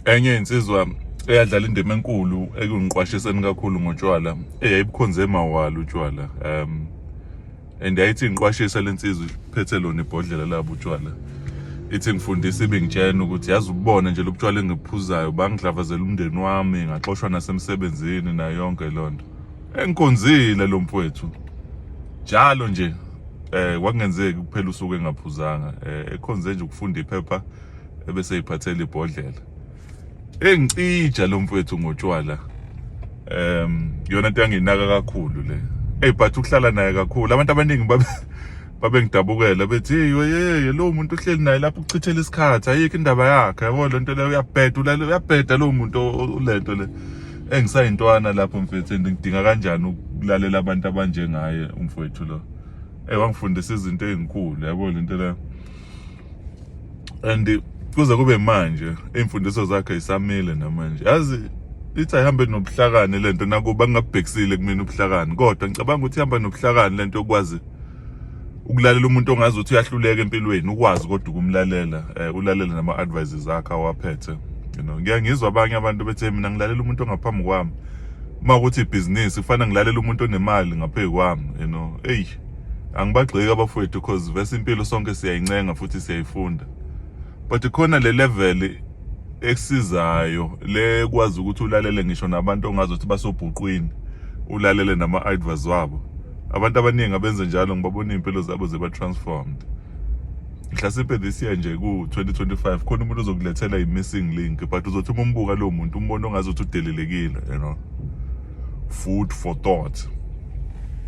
enye insizwa eyadlala indima enkulu ekungiqwashiseni kakhulu ngotshwala eyayibukhonze emawala utshwala um and yayithi ngiqwashisa lensizwa iphethe lona ibhodlela labo utshwala ithi ngifundisa ibingitshena ukuthi yazi ububona nje lobutshwala engibuphuzayo bangidlavazela umndeni wami ngaxoshwa nasemsebenzini nayo yonke lonto engikonzile lo mfowethu njalo nje eh kwakungenzeki kuphela usuku engaphuzanga eh ekhonze nje ukufunda iphepha ebese iphathela ibhodlela engicija lo mfethu ngotshwala em yona into yanginaka kakhulu le hey but ukuhlala naye kakhulu abantu abaningi babe babengidabukela bethi yeye lo muntu uhleli naye lapho uchithela isikhathi ayikho indaba yakhe yabo lento leyo uyabheda uyabheda lo muntu ulento le engisayintwana lapho mfethu and ngidinga kanjani ukulalela abantu abanjengaye umfowethu lo eh wangifundisa izinto ezinkulu yabo lento la and kuze kube manje imfundiso zakhe isamile namanje yazi ithi ayihambe nobuhlakani lento nakuba ngingabhekisile kumina ubuhlakani kodwa ngicabanga ukuthi ihamba nobuhlakani lento yokwazi ukulalela umuntu ongazi ukuthi uyahluleka empilweni ukwazi kodwa ukumlalela eh, ulalela nama advices akhe awaphethe you know ngiya ngizwa abanye abantu bethe mina ngilalela umuntu ongaphambi kwami uma ukuthi ibhizinisi kufanele ngilalela umuntu onemali ngaphezu kwami you know eyi angibagxeki abafowethu because vese impilo sonke siyayincenga futhi siyayifunda but khona le level ekusizayo le kwazi ukuthi ulalele ngisho nabantu ongazi ukuthi basobhuqwini ulalele nama-advers wabo abantu abaningi abenze njalo ngibabona iy'mpilo zabo ziba-transformed mhlasimpe this year nje ku-2025 khona umuntu ozokulethela i-missing link but uzothi uma umbuka lowo muntu umbona ongazi ukuthi udelelekile you know food for thought